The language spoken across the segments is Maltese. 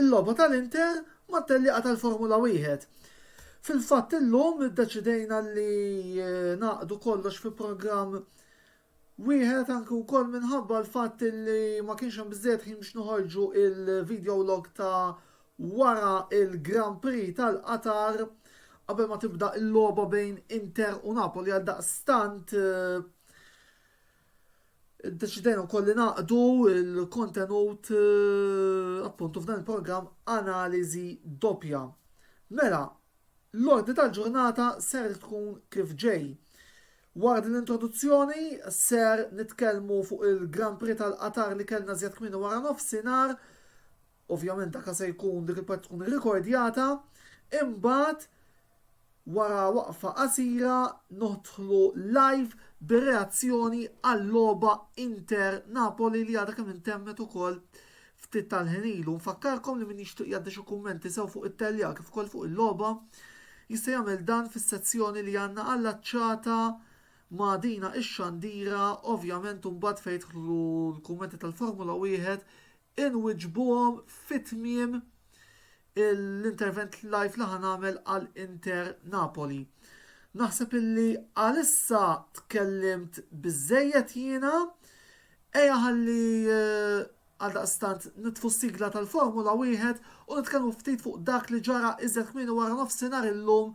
Il-logħba tal-Inter mat-tellieqa tal-Formula Wieħed. Fil-fatt illum iddeċidejna li ngħaqqdu kollox fi programm wieħed anke wkoll minħabba l-fatt li ma kienx hemm biżżejjed ħin biex noħorġu il-video log ta' wara il-Grand Prix tal-Qatar qabel ma tibda l-logħba bejn Inter u Napoli għaldaqstant Iddeċidejna wkoll li naqdu l-kontenut appuntu f'dan il-programm analiżi doppja. Mela, l-ordni tal-ġurnata ser tkun kif ġej. Wara din l-introduzzjoni ser nitkellmu fuq il-Grand Prix tal-Qatar li kellna żjed kmieni wara nofsinhar Ovvjament dak se jkun dik il-parti tkun irrikordjata, imbagħad wara waqfa qasira nidħlu live bir-reazzjoni għal-logħba Inter Napoli li għadha kemm intemmet ukoll ftit tal-ħin ilu. Nfakkarkom li min jixtieq jgħaddi xi kummenti sew fuq it-telja kif ukoll fuq il-logħba jista' jagħmel dan fis-sezzjoni li għandna allaċċata ma' dina ix-xandira, ovvjament imbagħad fejn jidħlu l-kummenti tal-Formula Wieħed inwiġbuhom fi tmiem l-intervent live li ħa nagħmel għal Inter Napoli. Naħseb illi għalissa tkellimt biżejjed jiena, eja ħalli eh, għaldaqstant nitfu sigla tal-Formula wieħed u nitkellmu ftit fuq dak li ġara iżjed kmieni wara nofsinhar illum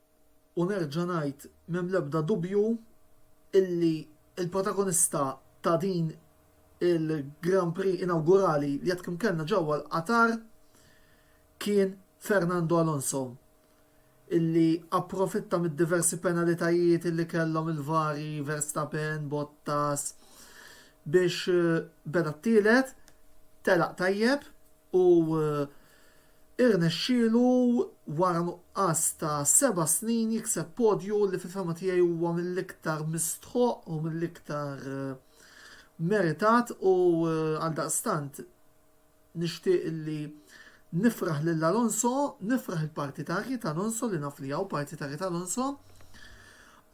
U nerġa' ngħid, m'hemm l-ebda dubju illi l-protagonista ta' din il-Grand Prix inawgurali li għad kemm kellna ġewwa l-Qatar kien Fernando Alonso illi approfitta mid-diversi penalitajiet illi kellhom il-vari Verstappen, Bottas biex beda t-tielet, telaq tajjeb u Irnexxielu wara nuqqas ta' seba' snin jikseb podju li fil-fehma tiegħi huwa mill-iktar mistħoqq u mill-iktar meritat u għaldaqstant nixtieq li nifraħ lil Alonso, nifraħ il-partitarji t'Alonso li naf li hawn partitarji t'Alonso,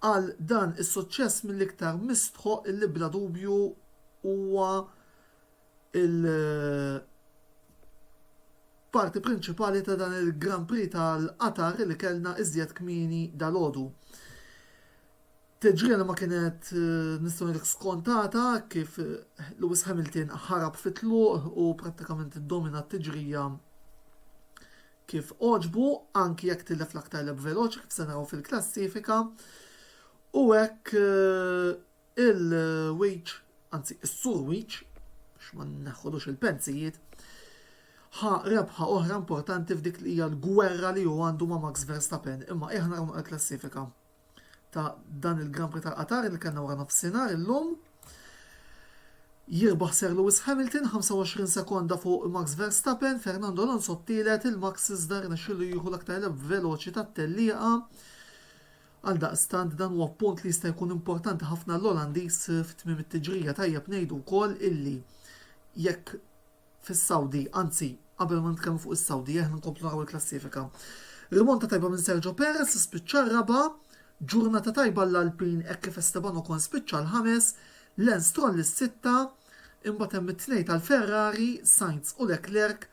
għal dan is-suċċess mill-iktar mistħoqq li bla dubju huwa il-parti prinċipali ta' dan il-Grand Prix tal-Qatar li kellna iżjed kmieni dalgħodu. Teġriena ma kienet nistgħu ngħidlek skontata kif Lewis Hamilton ħarab fit-tluq u prattikament iddomina t-tiġrija kif għoġbu, anki jekk tilef l-aktar lep veloċi kif se naraw fil-klassifika. U hekk Il-Weech, anzi is-Sur Weech, biex ma nneħħulux il-pensijiet, ħa rebħa oħra importanti f'dik li hija l-gwerra li hu għandu ma' Max Verstappen, imma qiegħ naraw naqra l-klassifika ta' dan il-Grand Prix tal-Qatar li kellna wara nofsinhar illum. Jirbaħ Sir Lewis Hamilton 25 sekonda fuq Max Verstappen, Fernando Alonso t-tielet, il-Max iżda rnexxielu jieħu l-aktar lep veloċi tat-tellieqa. Għaldaqstant dan huwa punt li jista' jkun importanti ħafna għall-Olandiż f'tmiem it-tiġrija. Tajjeb ngħidu wkoll illi jekk fis-Sawdi, anzi qabel ma nitkellmu fuq is-Sawdi aħna nkomplu naraw il-klassifika. Rimonta tajba minn Sergio Perez spiċċa r-raba', ġurnata tajba għall-Alpin hekk kif Esteban Ocon spiċċa l-ħames, Lance Stroll is-sitta, imbagħad hemm it-tnejn tal-Ferrari, Sainz u Leclerc,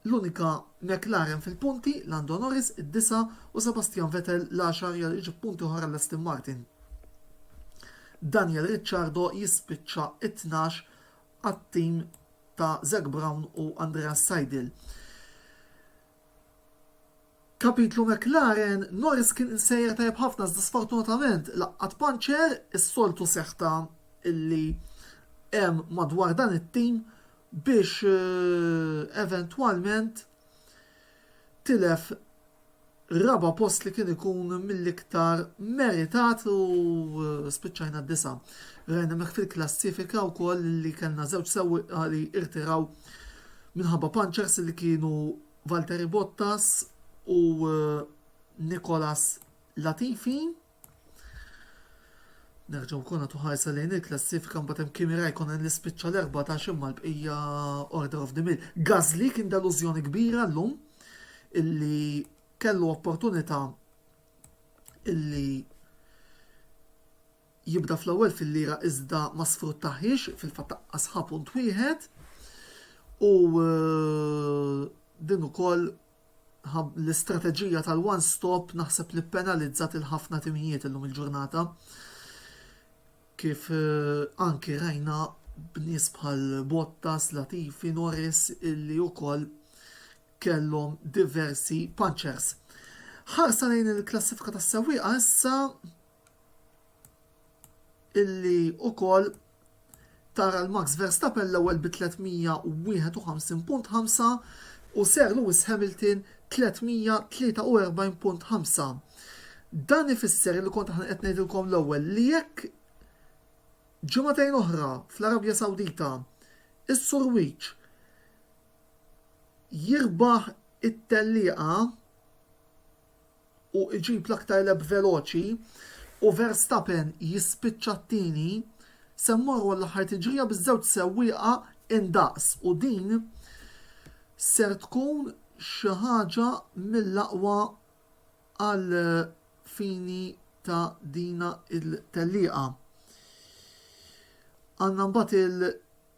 l-unika McLaren fil-punti, Lando Norris id-disa' u Sebastian Vettel l-għaxar jgħal iġib punti oħra l-Aston Martin. Daniel Ricciardo jispiċċa t-tnax għat-tim ta' Zak Brown u Andreas Seidl. Kapitlu McLaren, Norris kien insejjaħ tajjeb ħafna iżda sfortunatament laqgħat puncher, is-soltu seħta li hemm madwar dan it-tim biex eventwalment tilef raba' post li kien ikun mill-iktar meritat u spiċċajna d-disa'. Rajna hemmhekk fil-klassifika wkoll li kellna żewġ sewwieqa li irtiraw minħabba punchers li kienu Valtteri Bottas u Nicolas Latifi. Nerġgħu wkoll nagħtu ħarsa lejn il-klassifika mbagħad hemm Kimi Raikkonen li spiċċa l-14 imma l-bqija Order of the Mill. Gazli kien delużjoni kbira llum illi kellu opportunità illi jibda fl-ewwel fil-lira iżda ma sfruttahiex, fil-fatt taqqasha punt wieħed u din ukoll l-istrateġija tal-one stop naħseb li ppenalizzat lil ħafna timijiet illum il-ġurnata kif anki rajna b'nies bħal Bottas, Latifi, Norris illi wkoll kellhom diversi punctures. Ħarsa lejn il-klassifika tas-sewwieqa issa illi wkoll tara l-Max Verstappen l-ewwel bi 351.5 u Sir Lewis Hamilton 343.5. Dan ifisser li kont aħna qed ngħidilkom l-ewwel li jekk ġimagħtejn oħra fl-Arabja Sawdita is-Sur Wiċ jirbaħ it-tellieqa u jġib l-aktar lap veloċi u Verstappen jispiċċa t-tieni, se mmorru għall-aħħar tiġrija biż-żewġ sewwieqa indaqs u din ser tkun xi ħaġa mill-aqwa għall-fini ta' dina t-tellieqa. Għandna mbagħad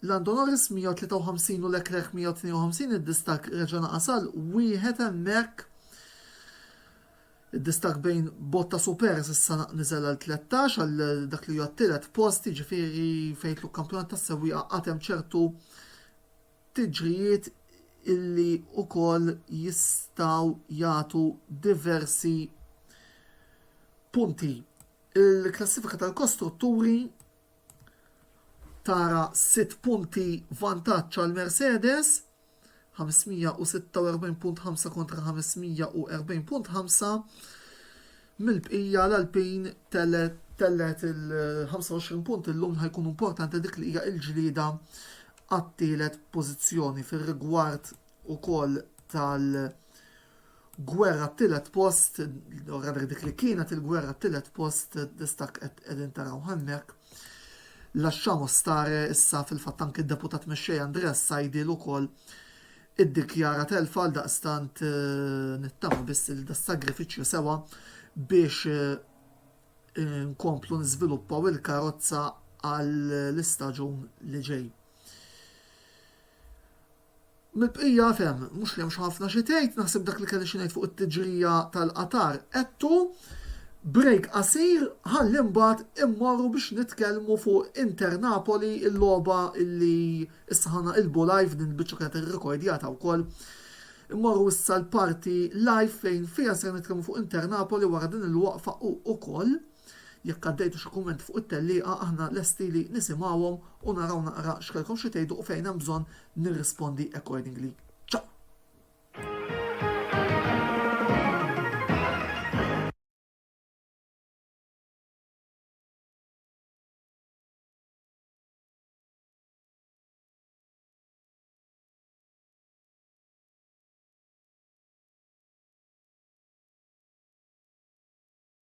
Land Honoris 153 u Leclerc 152 id-distakk reġa' naqas għal wieħed hemmhekk. Id-distakk bejn Bottas u Perez issa niżel għal 13 għal dak li huwa t-tielet post, jiġifieri fejn jidħlu kampjonat tas-sewwieqa għad hemm ċertu tiġrijiet illi wkoll jistgħu jagħtu diversi punti. Il-klassifika tal-kostrutturi tara sitt punti vantaġġ għal Mercedes, 546.5 kontra 540.5. Mill-bqija l-Alpin tellet il-25 punt illum ħajkun importanti dik li hija l-ġlieda għat-tielet pożizzjoni fir-rigward ukoll tal- gwerra t-tielet post, u rather dik li kienet il-gwerra t-tielet post dak qegħdin taraw hemmhekk. Lasciamo stare issa fil-fatt anki d-Deputat Mexxej Andrea Saidil ukoll iddikjara telfa għaldaqstant nittama biss li das-sagrifiċċju sewa biex inkomplu niżviluppaw il-karozza għall-istaġun li ġej. Mill-bqija f'hemm, mhux li hemmx ħafna xi tgħid, naħseb dak li kelli xi ngħid fuq it-tiġrija tal-Qatar għedtu. Break qasir ħalli mbagħad immorru biex nitkellmu fuq Inter Napoli, il-logħba li issa ħa naqilbu live, din il-biċċa kienet irrekordjata wkoll. Immorru issa l-parti live fejn fiha ser nitkellmu fuq Inter Napoli wara din il-waqfa u ukoll. Jekk għaddejtu xi kumment fuq it-tellieqa aħna lesti li nisimgħuhom u naraw naqra x'kellkom xi tgħidu u fejn hemm bżonn nirrispondi accordingly.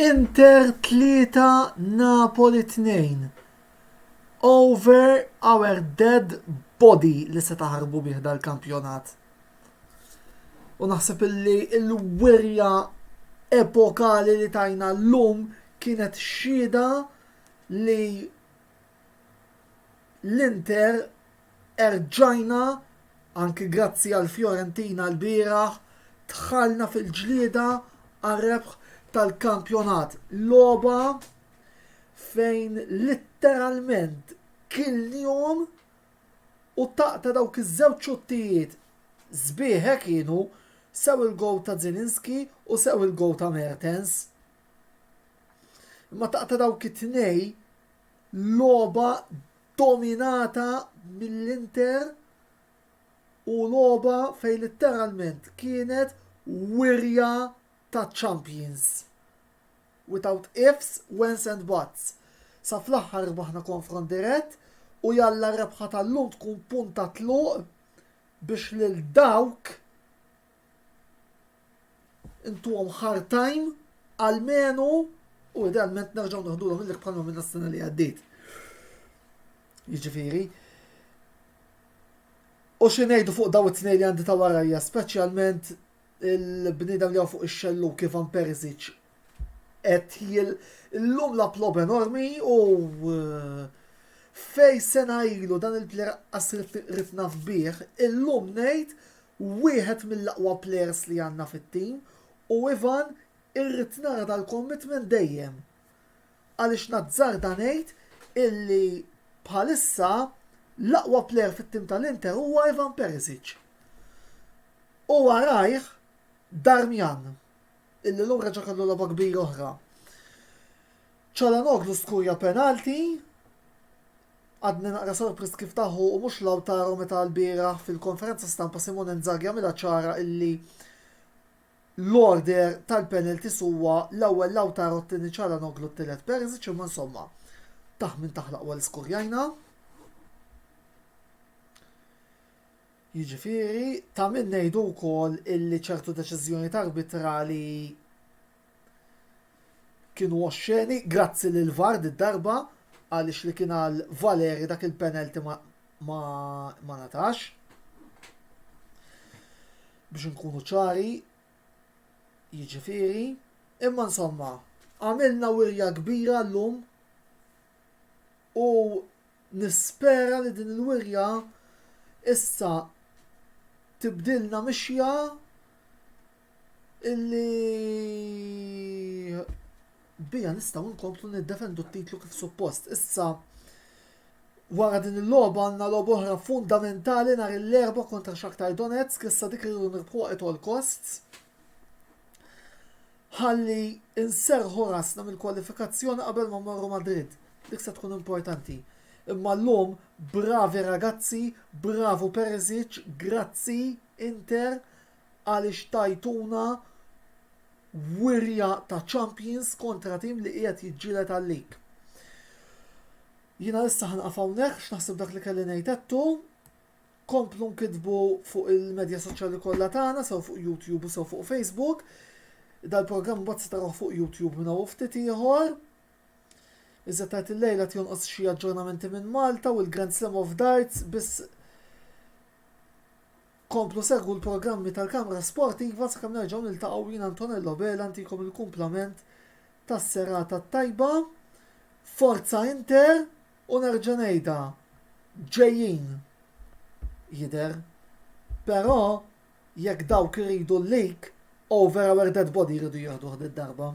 Inter 3 Napoli 2 Over our dead body li se taħarbu bih dal-kampjonat. U naħseb illi l-wirja epokali li tajna l-lum Kienet xhieda li l-Inter erġajna, anki grazzi għall-Fiorentina lbieraħ, dħalna fil-ġlieda għar-rebħ tal-kampjonat. Logħba fejn litteralment kilniehom u taqq ta' dawk iż-żewġ xuttijiet sbieħ hekk kienu, sew il-gowl ta' Zielinski u sew il-gowl ta' Mertens. Imma taqta' dawk it-tnej logħba dominata mill-Inter u logħba fejn litteralment kienet wirja ta' champions. Without ifs, whens and buts. Sa fl-aħħar rbaħna konfront dirett u jalla r-rebħa tal-lum tkun punt ta' tluq biex lil dawk Intuhom hard time, almenu, u idealment nerġgħu naħdulhom illek bħalma minna s-sena li għaddiet. Jiġifieri, U xi ngħidu fuq daw it-tnej li għandi ta' warajja, speċjalment il-bniedem li fuq ix-xellu kif għan Perisic qed jil l-lum la plob enormi u eh, fej sena ilu dan il-player qasir ritna fbieħ, il-lum ngħid wieħed mill-aqwa players li għandna fit-team u Ivan irrid nara dal-commitment dejjem għaliex nazzarda ngħid illi bħalissa l-aqwa player fit-team tal-Inter huwa Ivan Perisic u warajh Darmian illi llum reġa' kellu logħba kbira oħra. Calhanoglu skurja penalty Għadni naqra sorpriż kif ta hu u mhux Lautaro meta lbieraħ fil-konferenza stampa Simone Inzaghi għamilha ċara illi l-order tal-penalties huwa l-ewwel Lautaro t-tieni Calhanoglu t-tielet Perisic imma insomma taħ min taħ l-aqwa li skurjajna. Jiġifieri ta' min ngħidu wkoll illi ċertu deċiżjonijiet arbitrali Kienu oxxeni, grazzi lill-VAR did-darba għaliex li kien għal Valeri dak il-penalty ma ngħatax. Biex inkunu ċari, jiġifieri, imma insomma, għamilna wirja kbira llum u nispera li din il-wirja issa tibdilna mixja illi biha nistgħu nkomplu niddefendu t-titlu kif suppost. Issa wara din il-logħba għandna logħba oħra fundamentali nhar l-erba' kontra Shakhtar Donetsk, issa dik irridu nirbħuha at all costs. Ħalli inserħu rasna mill-kwalifikazzjoni qabel ma marru Madrid. Dik se tkun importanti. Imma llum bravi ragazzi, bravu Perisic, grazzi Inter għaliex tajtuna wirja ta' champions kontra tim li qiegħed jiġġieled għal-league. Jiena issa ħanqaf hawnhekk x'naħseb dak li kelli ngħid għedtu. Komplu nkitbu fuq il-medja soċjali kollha tagħna sew fuq YouTube u sew fuq Facebook. Dal-programm mbagħad se tarawh fuq YouTube minn hawn ftit ieħor. Iżda tajt il-lejla tjonqos xi aġġornamenti minn Malta u l-Grand Slam of Darts biss Komplu segwu l-programmi tal-Kamra Sportiva sakemm nerġgħu niltaqgħu jien Antonello Vela ntikom il-kumplament tas-serata t-tajba. Forza Inter u nerġa' ngħidha ġejjin jidher. Però jekk dawk iridu l-league over our dead body jridu jieħduh did-darba.